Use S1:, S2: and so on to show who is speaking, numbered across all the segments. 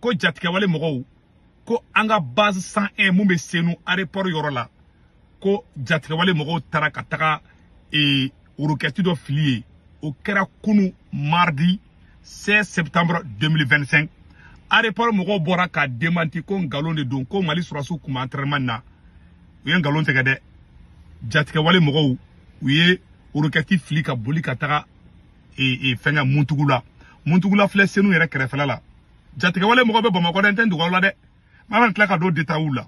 S1: ko jatigɛwale mɔgɔw ko an ka base 101 min bɛ senu aéroport yɔrɔ la ko jatigɛwale mɔgɔw taara ka taga ee roquette dɔ fili ye o kɛra kunu mardi 16 septembre 2025 aéroport mɔgɔw bɔra k'a démenti ko nkalon de don ko mali sɔrɔsiw kun bɛ entraînement na u ye nkalon tigɛ dɛ jatigɛwale mɔgɔw u ye roquette fili ka boli ka taga e, e, fɛnkɛ muntugula muntugula filɛ senu yɛrɛ kɛrɛfɛla la jatigɛwale mɔgɔw bɛ bamakɔ dɛ n tɛ n dogo aw la dɛ mais an bɛna tila ka don détails la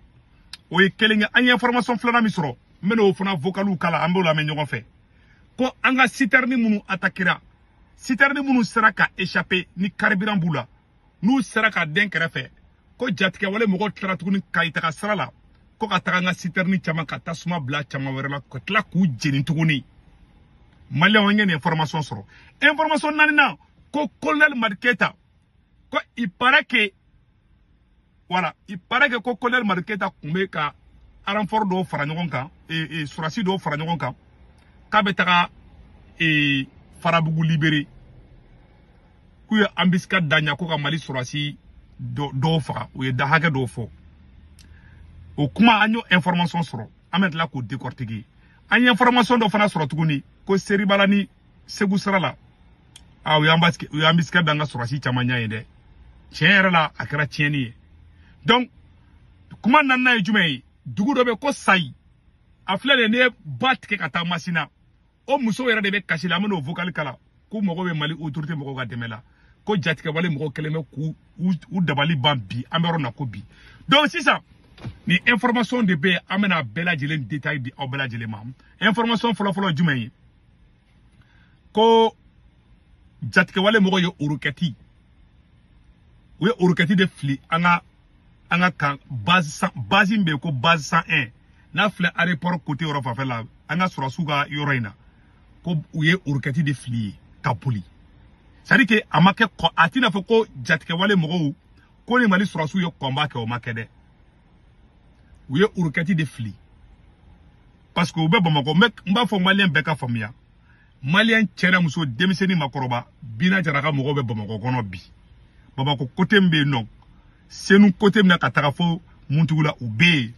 S1: o ye kelen ye an ye information filanan min sɔrɔ n bɛna o fana vocaliw kala an b'o lamɛn ɲɔgɔn fɛ ko an ka sitɛrini minnu atakira sitɛrini minnu sera ka échapper ni carburant b'u la n'u sera ka den kɛrɛfɛ ko jatigɛwale mɔgɔw tilara tuguni kayi taga sira la ko ka taga an ka sitɛrini caman ka tasuma bila caman wɛrɛ la ka tila k'u jeni tuguni maliyɛnw an ye nin information sɔrɔ information naaninan ko kolonɛli madi keyita ko il paraît que voilà il paraît que ko colonel Madi Keyita kun bɛ ka renfort dɔw fara ɲɔgɔn kan ee ee sɔrɔsi dɔw fara ɲɔgɔn kan k'a bɛ taga ee farabugu libérer k'u ye embuscade da a ɲa ko ka mali sɔrɔsi dɔw faga u ye da hakɛ dɔw fɔ o kuma an y'o information sɔrɔ an bɛ tila k'o décortiquer an ye information dɔ fana sɔrɔ tuguni ko seribala ni segu sira la a u ye embuscade da an ka sɔrɔsi caman ɲɛ yen dɛ tiɲɛ yɛrɛ la a kɛra tiɲɛni ye donc kuma naaninan ye jumɛn ye dugu dɔ bɛ ko sayi a filɛ dɛ n'i ye ba tigɛ ka taa masina o muso yɛrɛ de bɛ kasi la an bɛn'o vocal kala k'u mago bɛ mali autorité mɔgɔw ka dɛmɛ la ko jatigɛwale mɔgɔw kɛlen bɛ k'u u dabali ban bi an bɛ yɔrɔ na ko bi donc sisan nin information de bɛ yen an bɛna a bɛɛ lajɛlen détail di aw bɛɛ lajɛlen ma information fɔlɔfɔlɔ jumɛn ye ko jatigɛwale mɔgɔw ye roquette u ye roquette de fili an ka an ka camp base min bɛ yen ko base 101 n'a filɛ aéroport côté yɔrɔ fanfɛ la an ka sɔrɔsiw ka yɔrɔ in na ko u ye roquette de fili ye ka boli c'est-à-dire que a ma kɛ ko a t'i n'a fɔ ko jatigɛwale mɔgɔw ko ni mali sɔrɔsiw ye combat kɛ o ma kɛ dɛ u ye roquette de fili parce que u bɛ bamakɔ mais n b'a fɔ maliyɛn bɛɛ ka faamuya maliyɛn cɛ n'a muso denmisɛnnin makɔrɔba bina jara ka mɔgɔw bɛ bamakɔ kɔnɔ bi bamakɔ côté min bɛ yen nɔ senu côté min na ka taga fo muntugula u bɛ yen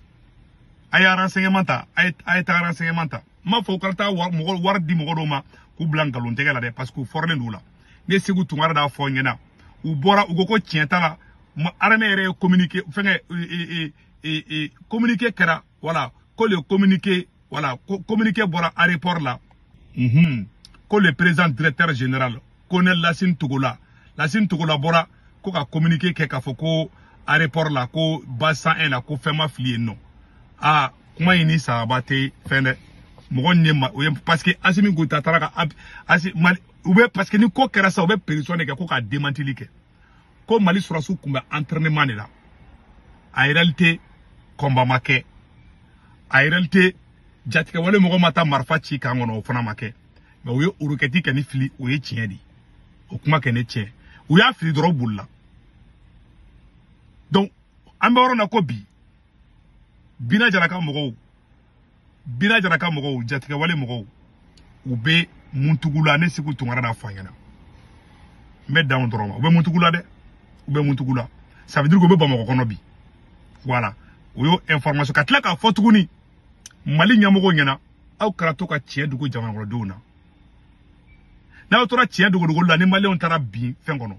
S1: a ye renseignement ta a ye a ye taa renseignement ta n b'a fɔ u kana taa wari di mɔgɔ dɔw ma k'u bila nkalon tɛgɛ la dɛ parce que u fɔrɔlen don o la ne segu tunkara d'a fɔ ɲɛna u bɔra u ko ko tiɲɛ t'a la armée yɛrɛ ye communiqué fɛngɛ e, e, e, communiqué kɛra voilà ko le communiqué voilà communiqué bɔra aéroport la unhun ko le président directeur général colonel Lassine Togola Lassine Togola bɔra ko ka communiqué kɛ k'a fɔ ko aéroport la ko base 101 la ko fɛn ma fili yen nɔ aa kuma in ni sababu tɛ fɛn dɛ mɔgɔ nin ye ma o ye parce que Asimi Goyita taara ka asi mali u bɛ parce que ni ko kɛra sa u bɛ pression de kɛ ko ka demantili kɛ ko mali sɔrɔsiw kun bɛ entraînement de la en réalité combat ma kɛ en réalité jatigɛwale mɔgɔ ma taa marifa ci kan kɔnɔ o fana ma kɛ mais u ye roquette kɔni fili o ye tiɲɛ de o kuma kɛ ne tiɲɛ u y'a fili dɔrɔn bolila donc an bɛ yɔrɔ na ko bi bina jara ka mɔgɔw bina jara ka mɔgɔw jatigɛwale mɔgɔw u bɛ muntugula ne segu tunkara n'a fɔ an ɲɛna n bɛ dan o dɔrɔn ma u bɛ muntugula dɛ u bɛ muntugula ça veut dire k'u bɛ bamakɔ kɔnɔ bi voilà o y'o information ka tila k'a fɔ tuguni mali ɲɛmɔgɔw ɲɛna aw kana to ka tiɲɛ dogo jamanakɔnɔdenw na n'aw tora tiɲɛ dogodogo la ni maliyɛnw taara bin fɛn kɔnɔ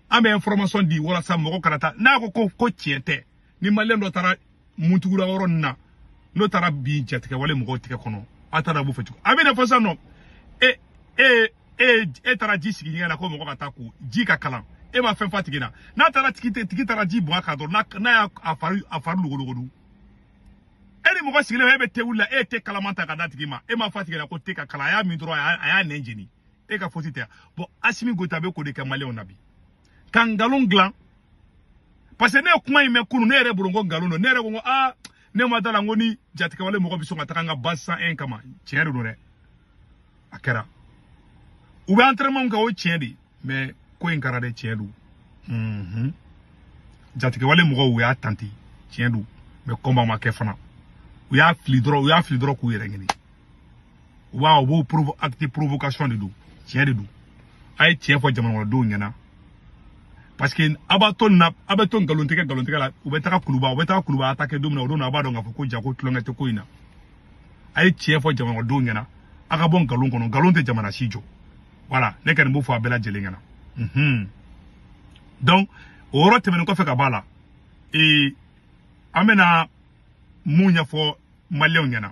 S1: an bɛ information di walasa mɔgɔ kana taa n'a ko ko ko tiɲɛ tɛ ni maliyɛn dɔ taara muntugula yɔrɔ nin na n'o taara bin jatigɛwale mɔgɔw tigɛ kɔnɔ a taara b'o fɛ cogo a bɛ n'a fɔ sisan nɔ e e e e taara ji sigi ɲɛgɛn na ko mɔgɔ ka taa ko ji ka kalan e ma fɛn f'a tigi la n'a taara tigi tigi taara ji bɔn a kan dɔrɔn n'a y'a a fari a fari logologodu e ni mɔgɔ sigilen e bɛ te wuli la e ye te kalaman ta ka d'a tigi ma e m'a f'a tigi la ko te ka kalan a y'a min dɔrɔn a y'a nɛn jeni e ka faute tɛ bon asimi goyita bɛ k'o de kɛ maliyɛnw na bi ka nkalon dilan parce que ne ye kuma in mɛn kunu ne yɛrɛ bolo n ko nkalon don ne yɛrɛ ko n ko aa ne ma d'a la n ko ni jatigɛwale mɔgɔ bɛ sɔn ka taga n ka base 101 kama tiɲɛ de don dɛ a kɛra u bɛ entraînement kɛ o tiɲɛ de mais ko in kɛra dɛ tiɲɛ don unhun jatigɛwale mɔgɔw u y'a tenté tiɲɛ don mais combat ma kɛ fana u y'a fili dɔrɔn u y'a fili dɔrɔn k'u yɛrɛ ɲini wa u b'o provo acte provocation de don tiɲɛ de don a ye tiɲɛ fɔ jamanakɔnɔdenw ɲɛna parce que a b'a to nin na a bɛ to nkalontigɛ nkalontigɛ la u bɛ taga kuluba u bɛ taga kuluba attaquer don min na o don na a b'a dɔn k'a fɔ ko ja ko tulonkɛ tɛ ko in na a ye tiɲɛ fɔ jamanakɔnɔdenw ɲɛna a ka bɔ nkalon kɔnɔ nkalon tɛ jamana si jɔ voilà ne kɔni b'o fɔ a bɛɛ lajɛlen ɲɛna unhun donc o yɔrɔ tɛmɛnen kɔfɛ ka bɔ a la ee an bɛna mun ɲɛfɔ maliyɛnw ɲɛna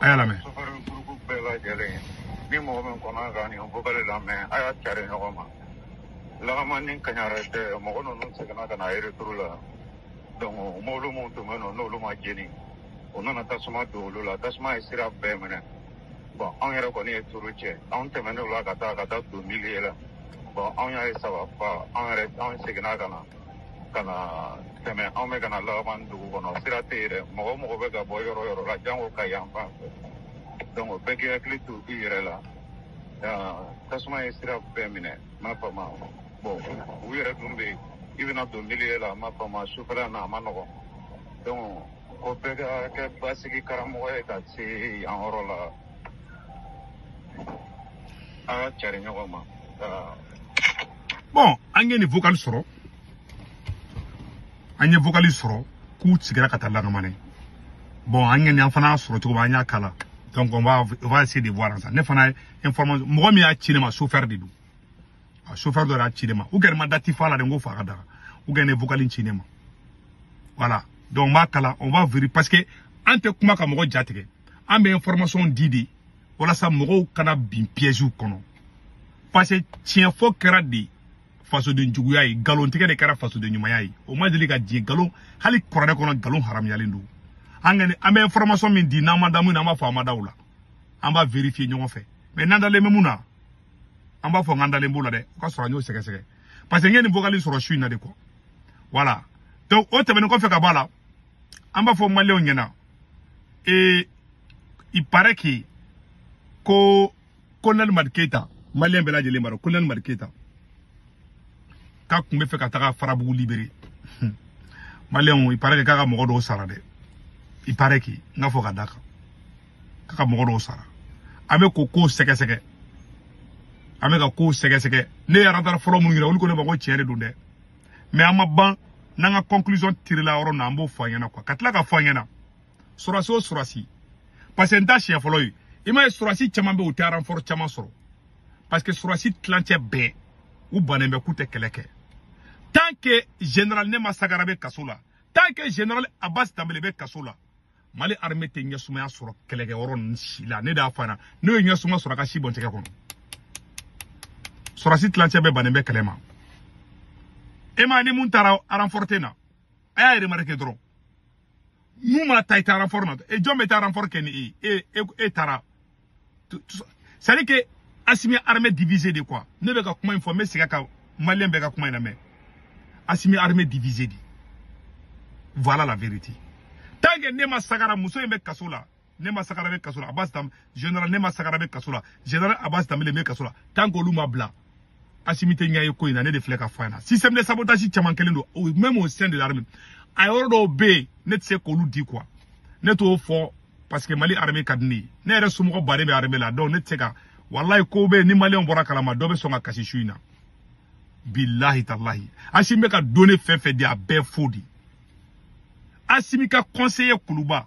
S1: a y'a
S2: lamɛn ni mɔgɔ min kɔnna ka nin vocal lamɛn a y'a cari ɲɔgɔn ma lakamane ni kaɲara cɛ mɔgɔ ninnu seginna ka na retour la donc mobili minnu tun bɛ nɔ n'olu ma jeni u nana tasuma don olu la tasuma ye sira bɛɛ minɛ bɔn anw yɛrɛ kɔni ye turu cɛ anw tɛmɛnen o la ka taa ka taa don milieu la bɔn anw y'a ye ça va pas anw yɛrɛ anw seginna ka na ka na tɛmɛ anw bɛ ka na lakamane dugu kɔnɔ sira tɛ yen dɛ mɔgɔ o mɔgɔ bɛ ka bɔ yɔrɔ yɔrɔ la jango ka yan fan fɛ donc bɛɛ k'i hakili to i yɛrɛ la tasuma ye sira bɛɛ minɛ ma fama bon u yɛrɛ dun bɛ yen i bɛna don milieu la ma fama sufɛla na a ma nɔgɔn donc ko bɛɛ ka kɛ basigi karamɔgɔ ye ka se yan yɔrɔ la a k'a cari ɲɔgɔn ma
S1: bɔn an ye nin vocal sɔrɔ an ye vocal sɔrɔ k'u sigira ka taa lakamane bɔn an ye nin an fana sɔrɔ cogo an y'a kala donc on va on va essayer de voir ça ne fana information mɔgɔ min y'a ci ne ma chauffeur de don a chauffeur dɔ y'a ci ne ma u gɛrɛ ma dati fa la de n ko fa ka daga u ye nin vocal ci ne ma voilà donc n b'a kala on va vérifier parce que an tɛ kuma ka mɔgɔ jatigɛ an bɛ information di de walasa mɔgɔw kana bin piège kɔnɔ parce que tiɲɛfɔ kɛra de fasoden juguya ye nkalontigɛ de kɛra fasoden ɲumanya ye o ma deli ka diya nkalon hali kuranɛ kɔnɔ nkalon haramuyalen don an kɔni an bɛ information min di n'an ma da min na an b'a fɔ an ma da o la an b'a vérifier ɲɔgɔn fɛ mais n'an dalen bɛ min na an b'a fɔ n k'an dalen b'o la dɛ o k'a sɔrɔ an y'o sɛgɛsɛgɛ parce que n ye nin vocal sɔrɔ su in na de quoi voilà donc o tɛmɛnen kɔfɛ ka bɔ a la an b'a fɔ maliyɛnw ɲɛna Et il paraît que ko colonel Madi Keita malien bɛɛ lajɛlen b'a dɔn colonel Madi Keita k'a tun bɛ fɛ ka taga Farabugu libérer malien il paraît que k'a ka mɔgɔ dɔw sara dɛ il paraît que n k'a fɔ ka d'a kan k'a ka mɔgɔ dɔw sara an bɛ k'o kow sɛgɛsɛgɛ an bɛ ka kow sɛgɛsɛgɛ ne ye radar fɔlɔ minnu yira olu ko ne ma ko tiɲɛ de don dɛ mais an ma ban n'an ka conclusion tirila yɔrɔ na an b'o fɔ an ɲɛna quoi ka tila k'a fɔ an ɲɛna sɔrɔsi o sɔrɔsi parce que nin t'a siɲɛ fɔlɔ ye i m'a ye sɔrɔsi caman bɛ u tɛ renfort caman sɔrɔ parce que sɔrɔsi tilancɛ bɛɛ u bannen bɛ k'u tɛ kɛlɛ kɛ tant que général nema sagara bɛ kaso la tant que général abbas danbele bɛ kaso la mali armée tɛ ɲɛsumaya sɔrɔ kɛlɛkɛyɔrɔ ninnu si la ne d'a fana n'o ye ɲɛsuma sɔrɔ a ka si bɔ n tɛgɛ kɔnɔ sɔrɔsi tilancɛ bɛɛ bannen bɛ kɛlɛ ma i m'a ye ni min taara renfort tɛ na a y'a remarquer dɔrɔn min mana taa i taa renfort na e jɔn bɛ taa renfort kɛ ni e ye e e taara c'est à dire que Assimi armée divisée de quoi ne bɛ ka kuma in fɔ n bɛ segin a kan maliyɛn bɛɛ ka kuma in lamɛn Assimi armée divisée de voilà la vérité tant que Nema Sagara muso in bɛ kaso la Nema Sagara bɛ kaso la Abbas Dem général Nema Sagara bɛ kaso la général Abbas Dembélé bɛ kaso la tant que olu ma bila asimi tɛ ɲɛ ye ko in na ne de filɛ ka fɔ a ɲɛna système de sabotage caman kɛlen don o même au sein de l'armée a yɔrɔ dɔw bɛ yen ne tɛ se k'olu di quoi ne t'o fɔ parce que mali armée ka di ne ye ne yɛrɛ somɔgɔ baden bɛ armée la donc ne tɛ se ka walayi ko bɛ yen ni maliyɛnw bɔra a kalama dɔ bɛ sɔn ka kasi su in na bilahi talahi asimi bɛ ka données fɛn fɛn di a bɛɛ faux de asimi ka conseiller kuluba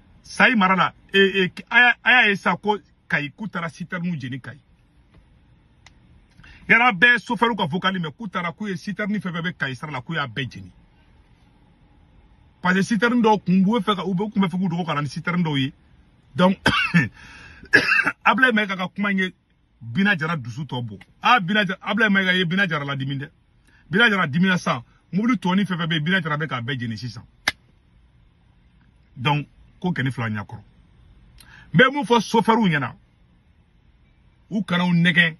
S1: sayi mara la e, e, a y'a ye sa ko kayi k'u taara sitɛriniw jeni kayi yala bɛɛ sofɛriw ka vokali mɛn k'u taara k'u ye sitɛrini fɛn fɛn bɛ kayi sira la k'u y'a bɛɛ jeni parce que sitɛrini dɔw kun b'u fɛ ka u bɛ kun bɛ fɛ k'u dogo ka na ni sitɛrini dɔw ye donc ablaye mayiga ka kuma in ye bina jara dusu tɔ bɔ a bina jara ablaye mayiga ye bina jara ladimi dɛ bina jara dimina sa mobili tɔni fɛn fɛn bɛ bina jara bɛ k'a bɛɛ jeni sisan donc ko kɛni filɛ a ɲakɔrɔ n bɛ mun fɔ sofɛriw ɲɛna u kana u nɛgɛn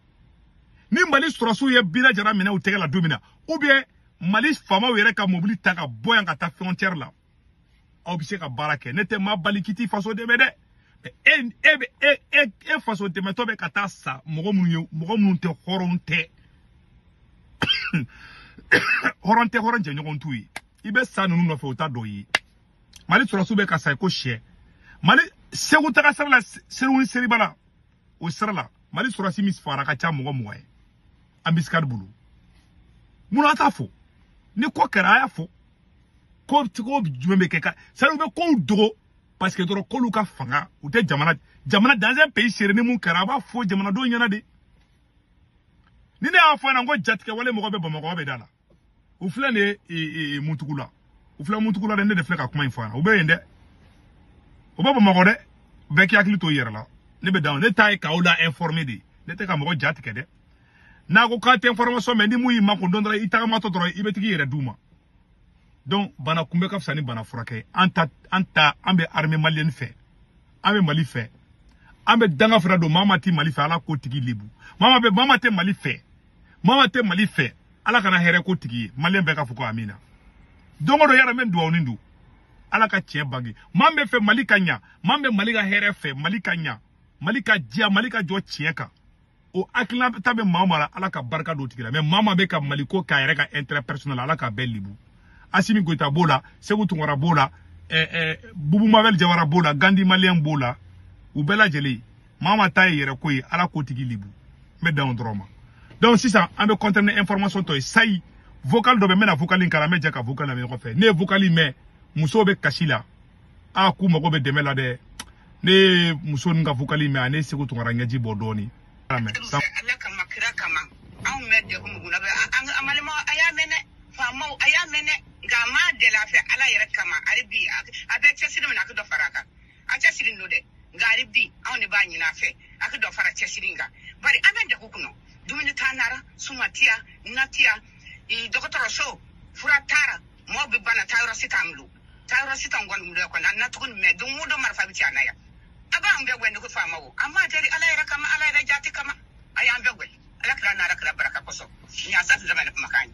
S1: ni mali sɔrɔsiw ye bina jara minɛ u tɛgɛ la don min na ou bien mali faamaw yɛrɛ ka mobili ta ka bɔ yan ka taa frontière la aw bɛ se ka baara kɛ ne tɛ maa bali k'i t'i faso dɛmɛ dɛ e e bɛ e e e faso dɛmɛtɔ bɛ ka taa sa mɔgɔ minnu ye mɔgɔ minnu tɛ hɔrɔn tɛ hɔrɔn tɛ hɔrɔn jɛɲɔgɔn t'u ye i bɛ sa ninnu nɔfɛ o ta dɔ ye mali sɔrɔsiw bɛ ka sa i ko sɛ mali segu taga sira la segu ni seribala o sira la mali sɔrɔsi min fagara ka ca mɔgɔ mugan ye embuscade bolo mun na a t'a fɔ ni ko kɛra a y'a fɔ ko ko jumɛn bɛ kɛ ka sari u bɛ kow dogo parce que dɔrɔn k'olu ka fanga u tɛ jamana jamana dans un pays sérieux ni mun kɛra a b'a fɔ jamanadenw ɲɛna de ni ne y'a fɔ a ɲɛna ko jatigɛwale mɔgɔ bɛ bamakɔ bɛ da la u filɛ nin ye muntugula u filɛ muntugula dɛ ne de filɛ ka kuma in fɔ a ɲɛna u bɛ yen dɛ u bɛ bamakɔ dɛ bɛɛ k'i hakili to i yɛrɛ la ne bɛ dan ne ta ye k'aw la informer de ne tɛ ka mɔgɔ ja tigɛ dɛ n'a ko k'a tɛ information mɛ ni mun y'i makun dɔn dɔrɔn i tagamatɔ dɔrɔn i bɛ tag'i yɛrɛ d'u ma donc bana kunbɛn ka fisa ni bana furakɛ an ta an ta an bɛ armée malienne fɛ an bɛ mali fɛ an bɛ danga fana don maa maa tɛ mali fɛ ala k'o tigi lebu maa maa bɛ maa maa tɛ mali fɛ maa maa tɛ mali fɛ ala kana hɛrɛ k'o tigi ye maliyɛn bɛɛ ka fɔ ko amina don o don yara bɛ duwawu nin don ala ka tiɲɛ bange maa min bɛ fɛ mali ka ɲa maa min bɛ mali ka hɛrɛ fɛ mali ka ɲa mali ka diya mali ka jɔ tiɲɛ kan o hakilina ta bɛ maa maa la ala ka barika don o tigi la mais maa maa bɛ ka mali ko k'a yɛrɛ ka intérêt personnel ala k'a bɛɛ lebu asimi goyita b'o la seku tunkara b'o la ɛɛ ɛɛ bubu mabɛli jawara b'o la gandi maliyɛn b'o la u bɛɛ lajɛlen maa ma ta ye yɛrɛ ko ye ala ko tigi libu n bɛ dan o dɔrɔn ma donc sisan an bɛ continuer ni information tɔ ye ça y est vocal dɔ bɛ n bɛna vocal in kalan an bɛ jɛ ka vocal lamɛn ɲɔgɔn fɛ ne ye vocal in mɛn musow bɛ kasi la a k'u mago bɛ dɛmɛ la dɛ ne ye muso ninnu ka vocal in mɛn a ne seku tunkara ɲɛji bɔ dɔɔni ala kama kira kama anw bɛ degun mun na bi an
S3: balima a y'a mɛn dɛ faamaw a y'a mɛn dɛ nka an b'a deli a fɛ ala yɛrɛ kama hali bi a bɛ cɛsiri min na a ka dɔ fara a kan a cɛsirilen don dɛ nka hali bi anw de b'a ɲini a fɛ a ka dɔ fara cɛsiri kan bari an bɛ degun kɔnɔ dumuni t'an nara suma tiyana tiya dɔgɔtɔrɔso fura t'a ra mɔɔ bɛ bana taa yɔrɔ si t'an bolo taa yɔrɔ si t'an kɔni bolo kɔni an natugulen bɛ don o don marifa bɛ ci an na yan a b'an bɛɛ wɛni ko faamaw an b'a deli ala yɛrɛ kama ala yɛrɛ jati kama a y'an bɛɛ wɛni ala kira n'ala kira baraka kosɔn nin y'a sa tɛ dama ne kumakan ye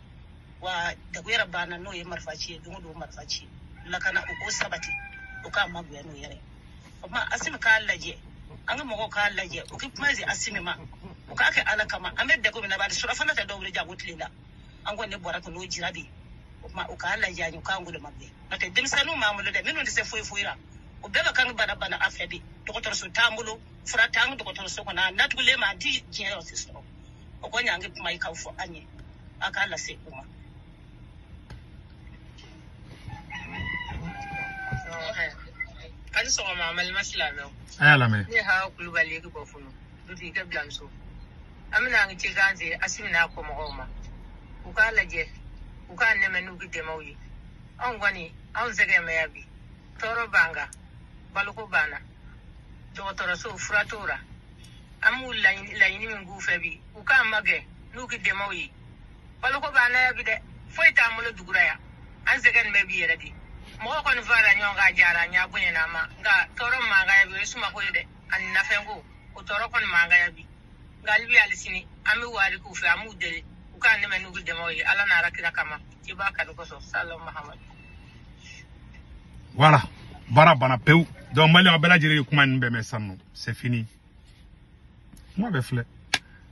S3: wa degun yɛrɛ b'an na n'o ye marifa ci ye don o don marifa ci lakana u k'o sabati u k'an magɛn n'u yɛrɛ o tuma asimi k'a lajɛ an ka mɔgɔw k'a lajɛ u ka kuma se asimi ma u k'a kɛ ala kama an bɛ degun min na bari surafana tɛ dɔw bolo janko tilela an kɔni ne bɔra ko n'o jira bi o tuma u k'a lajɛ an ye u k'an goloma bɛɛ n'o tɛ denmisɛnninw b'an bolo dɛ minnu tɛ se foyi foyi la u bɛɛ bɛ ka bana bana an fɛ bi dɔgɔtɔrɔso t'an bolo fura t'an ka dɔgɔtɔrɔso kɔnɔ an natugulen bɛ an tɛ diɲɛ yɔrɔ si sɔrɔ o kɔni y'an ka kuma ye k'a fɔ aw ye a k'a lase u ma a ni sɔgɔma n balima silamɛw a y'a lamɛn ne
S1: hawa kulubali
S3: ka bɔ funu dutigi ka biranmuso an bɛna an ka cikan se asimi n'a kɔmɔgɔw ma u k'a lajɛ u k'an dɛmɛ n'u ka dɛmɛw ye anw kɔni anw sɛgɛn bɛ yan bi tɔɔrɔ b'an kan baloko b'an na dɔgɔtɔrɔso fura t'a la an bɛ laɲini min k'u fɛ bi u k'an magɛn n'u ka dɛmɛw ye baloko b'an na yan bi dɛ foyi t'an bolo dugura yan an sɛgɛn bɛ bi yɛrɛ de mɔgɔ kɔni fara ɲɔgɔn kan a diyara an y'a bonyana an ma nka tɔɔrɔ b'an kan yan bi o ye sumako ye dɛ ani nafɛnko o tɔɔrɔ kɔni b'an kan yan bi nka hali bi hali sini an bɛ wari k'u fɛ an b'u deli u k'an dɛmɛ n'u ka dɛmɛw ye ala n'ala kira kama i b'a kanu kosɔn
S1: salalahu mahamadu
S3: voilà
S1: baara
S3: banna pewu
S1: donc maliyɛn bɛɛ lajɛlen ye kuma ninnu bɛɛ mɛn sisan non c'est fini kuma bɛɛ filɛ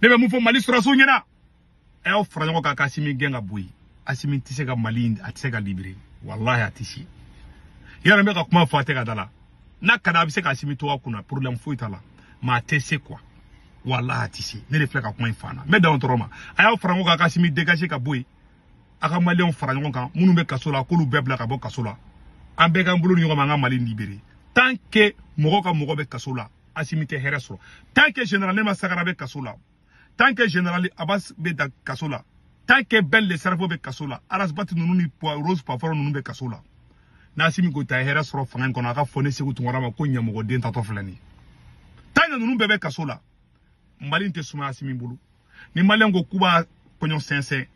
S1: ne bɛ mun fɔ mali sɔrɔdasiw ɲɛna a y'aw fara ɲɔgɔn kan ka asimi gɛn ka bɔ yen asimi tɛ se ka mali a tɛ se ka libere walahi a tɛ se yɔrɔ n bɛ ka kuma fɔ a tɛ ka da a la n'a ka di a bɛ se ka asimi to a kunna problème foyi t'a la mais a tɛ se quoi walahi a tɛ se ne de filɛ ka kuma in fɔ a na n bɛ dan o dɔrɔn ma a y'aw fara ɲɔgɔn kan ka asimi dégager ka bɔ yen a ka maliyɛnw fara ɲɔgɔn kan minnu bɛ kaso la k'olu bɛɛ bila ka bɔ kaso la an bɛɛ k'an bolo di ɲɔgɔn ma an ka mali libere tant que mɔgɔ ka mɔgɔ bɛ kaso la asimi tɛ hɛrɛ sɔrɔ tant que général nema sagara bɛ kaso la tant que général abbas bɛ da kaso la tant que ben le cerveau bɛ kaso la ras bath ninnu ni rose poivron ninnu bɛ kaso la n'asimi goyita hɛrɛ sɔrɔ fanga in kɔnɔ a ka fɔ ne seku tunkara ma ko ɲamɔgɔden taatɔ filɛ nin ye tant que ninnu bɛɛ bɛ kaso la mali tɛ suma asimi bolo ni maliyɛn ko k'u b'a kɔɲɔ sɛnsɛn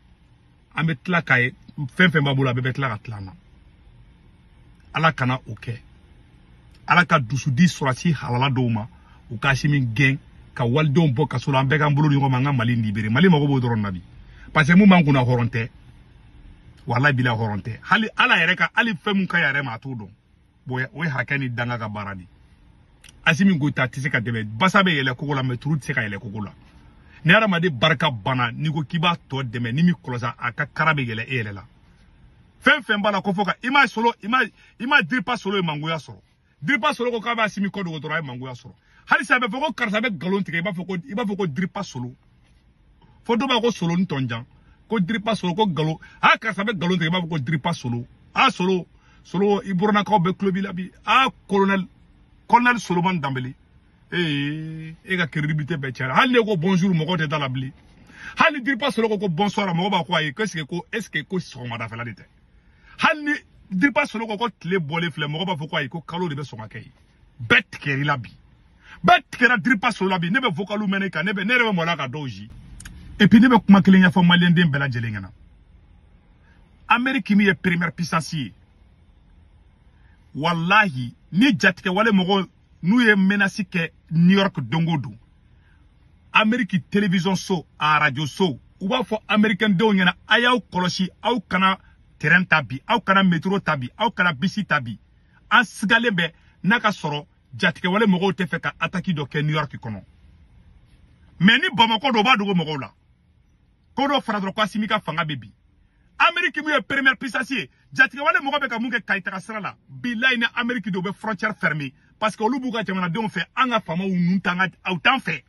S1: an bɛ tila k'a ye fɛn fɛn b'a bolo a bɛɛ bɛ tila ka tila an na ala kana o kɛ ala ka dusu di sɔrɔdasi halala dɔw ma u ka asimi gɛn ka walidenw bɔ kaso la an bɛɛ k'an bolo ɲɔgɔn ma an ka mali libere mali mago b'o dɔrɔn na bi parce que mun b'an kunna hɔrɔn tɛ walahi bilayi hɔrɔn tɛ hali ala yɛrɛ ka hali fɛn mun ka yɛrɛ ma a t'o dɔn bon o ye hakɛ ni danga ka baara de asimi goyita tɛ se ka dɛmɛ basa bɛ yɛlɛ kogo la mais ntori tɛ se ka yɛlɛ kogo la ni hadamaden barika banna n'i ko k'i b'a tɔ dɛmɛ n'i m'i kɔlɔsi a ka kara bɛ yɛlɛ e yɛrɛ la fɛn fɛn b'a la ko fɔ ka i ma solo i ma i ma diripa solo ye mangoya sɔrɔ diripa solo ko k'a b'asimi ko dogo dɔrɔn a ye mangoya sɔrɔ halisa a bɛ fɔ ko karisa bɛ nkalon tigɛ i b'a fɔ ko i b'a fɔ ko diripa solo fo dɔ b'a ko solo ntɔnjan ko diripa solo ko nkalon a karisa bɛ nkalon tigɛ i b'a fɔ ko diripa solo a solo solo i burannakaw bɛ kulo b'i la bi a kolonɛli solomani danbele ee e ka crédibilité bɛɛ tiɲɛna hali n'e ko bonjour mɔgɔ tɛ d'a la bilen hali diripa solo ko ko bonsoir mɔgɔ b'a ko ayi ko est ce que ko est ce que ko sɔgɔmadafɛla de tɛ hali ni diripa solo ko ko tile bɔlen filɛ mɔgɔ b'a fɔ ko ayi ko kalo de bɛ sɔn ka kɛ yen bɛɛ tigɛra i la bi bɛɛ tigɛra diripa solo la bi ne bɛ vokalu mɛn ne kan ne bɛ ne yɛrɛ bɛ mɔla ka dɔw ji et puis ne bɛ kuma kelen ɲɛfɔ maliyɛnden bɛɛ lajɛlen ɲɛna ameriki min ye première puissance ye walahi ni jatigɛwale mɔgɔw n'u ye menace kɛ new york don o don ameriki television so a radio so u b'a fɔ amerikɛn denw ɲɛna a y'aw kɔlɔsi aw kana train ta bi aw kana metro ta bi aw kana bisi ta bi an sigalen bɛ n'a ka sɔrɔ jatigɛwale mɔgɔw tɛ fɛ ka ataki dɔ kɛ new york kɔnɔ mais ni bamakɔ don u b'a dogo mɔgɔw la ko n'o fɔra dɔrɔn ko asimi ka fanga bɛ bin ameriki min ye première puissance ye jatigɛwale mɔgɔ bɛ ka mun kɛ kayi taga sira la bilayi ni ameriki don u bɛ frontière fermer parce que olu b'u ka jamanadenw fɛ an ka faamaw ninnu t'an ka aw t'an fɛ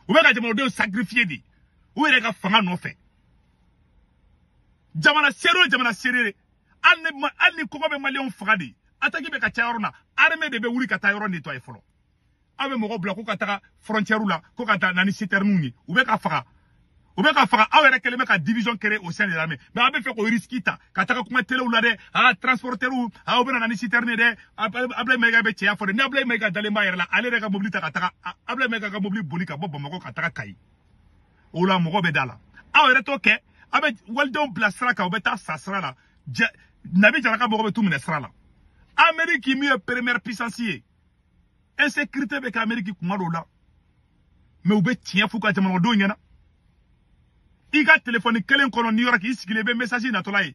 S1: u bɛ ka jamanadenw sacrifier de u yɛrɛ ka fanga nɔfɛ jamana seere o jamana seere hali ni hali ni kɔngɔ bɛ maliyɛnw faga de ataki bɛ ka ca yɔrɔ na armée de bɛ wuli ka taa yɔrɔ nettoyer fɔlɔ aw bɛ mɔgɔw bila ko ka taga frontière la ko ka taa na ni citerne ye u bɛ ka faga u bɛ ka faga aw yɛrɛ kɛlen bɛ ka division créer au sein de l'armée mais aw bɛ fɛ k'o risque ta ka taga kuma telew la dɛ aa transporteurs aa u bɛna na ni citerne ye dɛ Ablaye Mayiga bɛ cɛya fɔ dɛ ni Ablaye Mayiga dalen b'a yɛrɛ la ale yɛrɛ ka mobili ta ka taga Ablaye Mayiga ka mobili boli ka bɔ Bamakɔ ka taga Kayi o la mɔgɔ bɛ da la aw yɛrɛ t'o kɛ a bɛ walidenw bila sira kan u bɛ taa sa sira la jɛ nabi jaraka mɔgɔ bɛ t'u minɛ sira la ameriki min ye première puissance ye insécurité bɛ kɛ ameriki kuma dɔw la mais u bɛ tiɲɛ f'u ka jamanadenw ɲɛna i ka telefɔni kelen kɔnɔ new york i sigilen i bɛ message natɔla ye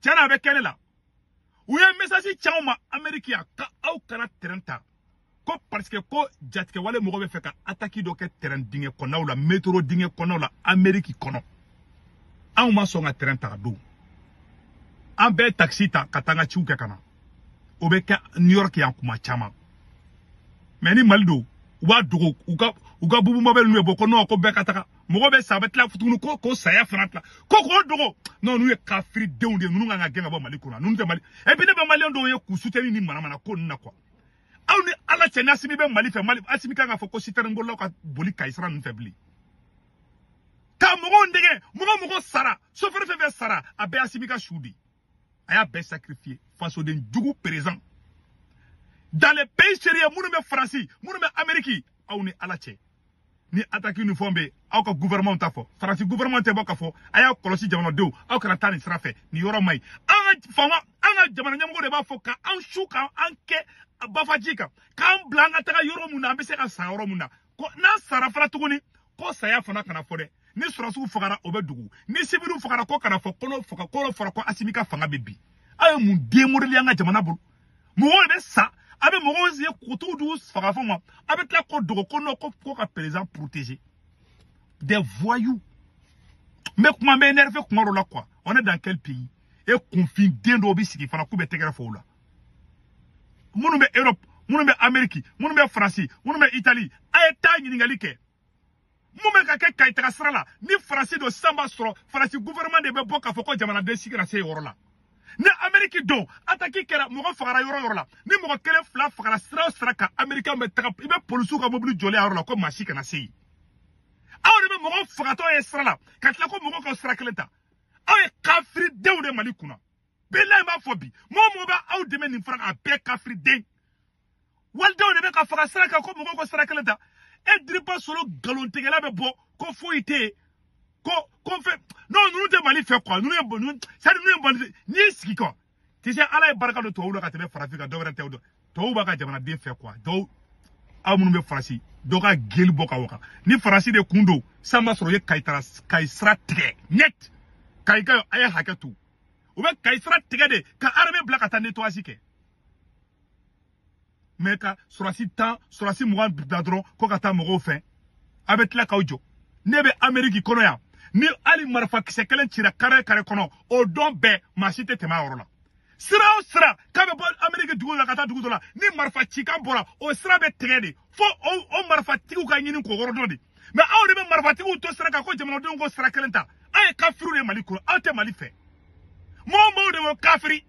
S1: tiɲɛ na a bɛ kɛ ne la u ye mesasi ci anw ma ameriki yan ka aw kana tɛrɛn ta ko pariseke ko jatigɛwale mɔgɔ bɛ fɛ ka ataki dɔ kɛ tɛrɛn dingɛ kɔnɔnaw la metro dingɛ kɔnɔnaw la ameriki kɔnɔ anw ma sɔn ka tɛrɛn ta o don an bɛɛ takisi ta ka taa an ka ciw kɛ ka na o bɛ kɛ new york yan kuma caman mais ni mali don u b'a dogo u ka u ka bubu mabɛli ninnu ye bɔ ko non ko bɛɛ ka taga mɔgɔ bɛ sa a bɛ tila tuguni ko ko saya fana tila ko k'o dogo non ninnu ye kafiri denw de ye ninnu ka kan ka gɛn ka bɔ mali kɔnɔ ninnu tɛ mali et puis ne bɛ maliyɛn dɔw ye k'u soutenu nin manamana ko ninnu na quoi aw ni ala cɛ ni asimi bɛ mali fɛ mali asimi ka kan k'a fɔ ko sitɛrɛnbolilaw kana boli kayi sira ninnu fɛ bilen ka mɔgɔw dɛgɛ mɔgɔ mɔgɔ sara sofɛri fɛn fɛn sara a bɛɛ asimi ka su de ye a y'a bɛɛ sacrifier fasoden jugu présent dans les pays sérieux minnu bɛ faransi minnu bɛ ameriki aw ni ala cɛ ni attaque ni fɛnw bɛ aw ka gouvernement t'a fɔ faransi gouvernement tɛ bɔ k'a fɔ a y'a kɔlɔsi jamanadenw aw kana taa nin sira fɛ nin yɔrɔ man ɲi an ka faama an ka jamana ɲɛmɔgɔ de b'a fɔ ka an su ka an kɛ bafaji kan k'an bila an ka taga yɔrɔ mun na an bɛ se ka sa yɔrɔ mun na ko n'an sara fana tuguni ko saya fana kana fɔ dɛ ni sɔrɔdasiw fagara o bɛ dogo ni siwiliw fagara k'o kana fɔ ko n'o faga ko n'o fɔra ko asimi ka fanga bɛ bin aw ye mun den modeli an ka jamana bolo mɔgɔw de bɛ sa a bɛ mɔgɔw ye kutuw dugu faga fɔ ma a bɛ tila k'o dogo ko non ko ko ka président protéger des voyous n bɛ kuma n bɛ énervé kuma dɔ la quoi on est dans quel pays et kunfin den dɔw bɛ sigi fana k'u bɛ tɛgɛrɛ fɔ o la minnu bɛ europe minnu bɛ ameriki minnu bɛ faransi minnu bɛ itali a ye taa ɲininkali kɛ mun bɛ ka kɛ kayitaga sira la ni faransi don sisan b'a sɔrɔ faransi gouvernement de bɛ bɔ k'a fɔ ko jamanaden si kana se yɔrɔ la ni ameriki don ataki kɛra mɔgɔ fagara yɔrɔ yɔrɔ la ni mɔgɔ kelen fila fagara sira o sira kan amerikɛnw bɛ taga i bɛ polisiw ka mobili jɔlen y'a yɔrɔ la ko maa si kana se yen aw de bɛ mɔgɔw fagatɔ ye sira la ka tila ko mɔgɔw ka sira kelen ta aw ye kafiridenw de mali kunna bilayi b'a fɔ bi mɔgɔ mɔgɔ bɛ aw dɛmɛ nin fara a bɛɛ kafiriden walidenw de bɛ ka faga sira kan ko mɔgɔw ka sira kelen ta e diriba solo nkalontigɛla bɛ bɔ ko foyi tɛ yen ko ko fɛn non ninnu tɛ mali fɛ quoi ninnu ye ninnu sari ninnu ye mali n'i y'i sigi quoi tu sais ala ye barika don tubabuw la ka tɛmɛ farafin kan dɔwɛrɛ tɛ o dɔn tubabuw b'a ka jamanaden fɛ quoi dɔw aw minnu bɛ faransi dɔ ka geli bɔ ka waga ni faransi de tun don sisan b'a sɔrɔ u ye kayi sira tigɛ net kayi ka a ye hakɛ to u bɛ kayi sira tigɛ de ka arme bila ka taa nettoyage kɛ mɛ ka sɔrɔsi tan sɔrɔsi mugan bila dɔrɔn ko ka taa mɔgɔw fɛ a bɛ tila k'aw jɔ ne bɛ ameriki kɔnɔ yan ni hali marifa kisɛ kelen cira kare kare kɔnɔ o don bɛɛ maa si tɛ tɛmɛ a yɔrɔ la sira o sira k'a bɛ bɔ ameriki dugu la ka taa dugu dɔ la ni marifa cikan bɔra o sira bɛ tigɛ de fo o marifatigiw ka ɲini k'o yɔrɔ dɔn de mɛ aw de bɛ marifatigiw to sira kan ko jamanadenw k'o sira kelen ta aw ye kafiriw de mali kɔnɔ aw tɛ mali fɛ mɔgɔ mɔgɔw de bɛ kafiri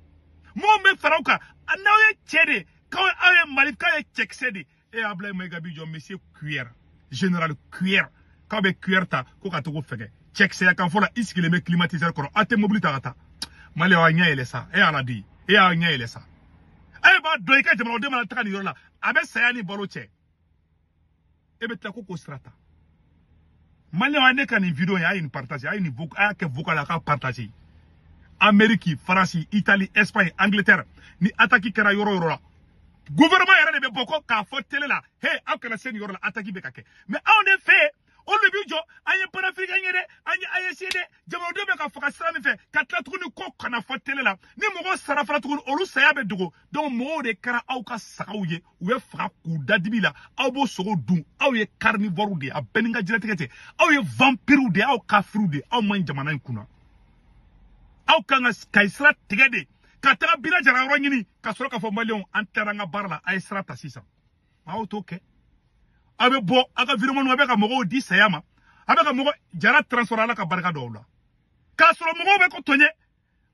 S1: mɔgɔ bɛ fara aw kan n'aw ye cɛ de k'aw aw ye mali k'aw ye cɛkisɛ de e abulayi mayiga b'i jɔ monsieur cuillère général cuillère k'aw bɛ cuillère ta ko ka to ko fɛgɛ cɛkisɛya kan fɔ la i sigilen bɛ climatiseur kɔrɔ aw tɛ mobili ta ka taa mali aw ɲɛ yɛlɛ sa e y'a ladi e y'a ɲɛ yɛlɛ sa e b'a dɔn i ka jamanaden mana taga nin yɔrɔ la a bɛ saya ni balo cɛ e bɛ tila ko k'o sira ta maliyɛnw a ne ka nin video in a ye nin partage a ye nin a y'a kɛ vocal a k'a partage ameriki faransi itali espagne angleterre ni ataki kɛra yɔrɔ yɔrɔ la gouvernement yɛrɛ de bɛ bɔ ko k'a fɔ tele la he aw kana se nin yɔrɔ la ataki bɛ ka kɛ mais aw de fɛ o de b'i jɔ an ye panafiriken ye dɛ an ye aes dɛ jamanadenw bɛ ka faga sira min fɛ ka tila tuguni ko kana fɔ tele la ni mɔgɔw sara fana tuguni olu saya bɛ dogo donc mɔgɔw de kɛra aw ka sagaw ye u bɛ faga k'u da dibi la aw b'o sogo dun aw ye carnivore de ye a bɛɛ ni ka jɛnatigɛ tɛ aw ye vampiriw de ye aw kafiriw de ye aw man ɲi jamana in kunna aw kan ka kayi sira tigɛ de ka taga bina jara yɔrɔ ɲini ka sɔrɔ k'a fɔ maliyɛnw an taara an ka baara la a ye sira ta sisan aw t'o kɛ a bɛ bɔ a ka viremɔni a bɛ ka mɔgɔw di saya ma a bɛ ka mɔgɔ jara transfert ala ka barika dɔw la k'a sɔrɔ mɔgɔw bɛ ko tɔɲɛ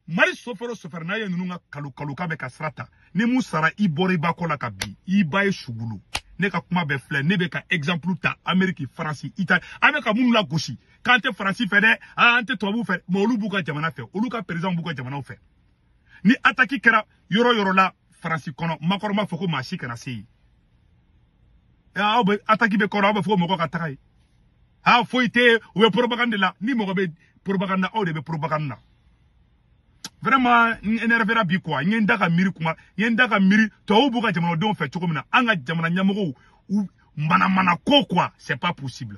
S1: mali sofɛrɛ o sofɛrɛ n'a ye ninnu ka kalo kalo k'a bɛ ka sira ta ni mun sara i bɔra i ba kɔ la ka bin i ba ye sugulu ne ka kuma bɛɛ filɛ ne bɛ ka exemple ta ameriki faransi itali an bɛ ka minnu lagosi k'an tɛ faransi fɛ dɛ an tɛ tubabuw fɛ mɛ olu b'u ka jamana fɛ olu ka perezanw b'u ka jamanaw fɛ ni ataki kɛra yɔrɔ yɔrɔ la faransi kɔnɔ macron b'a fɔ ko maa si kana se yen aw bɛ ataki bɛ kɔrɔ aw bɛ fɔ ko mɔgɔ ka taga yen a foyi tɛ u bɛ propagande la ni mɔgɔ bɛ propagande na aw de bɛ propagande na vraiment n énervera bi quoi n ye n da ka miiri kuma n ye n da ka miiri tubabuw b'u ka jamanadenw fɛ cogo min na an ka jamana ɲɛmɔgɔw u manamana ko quoi c'est pas possible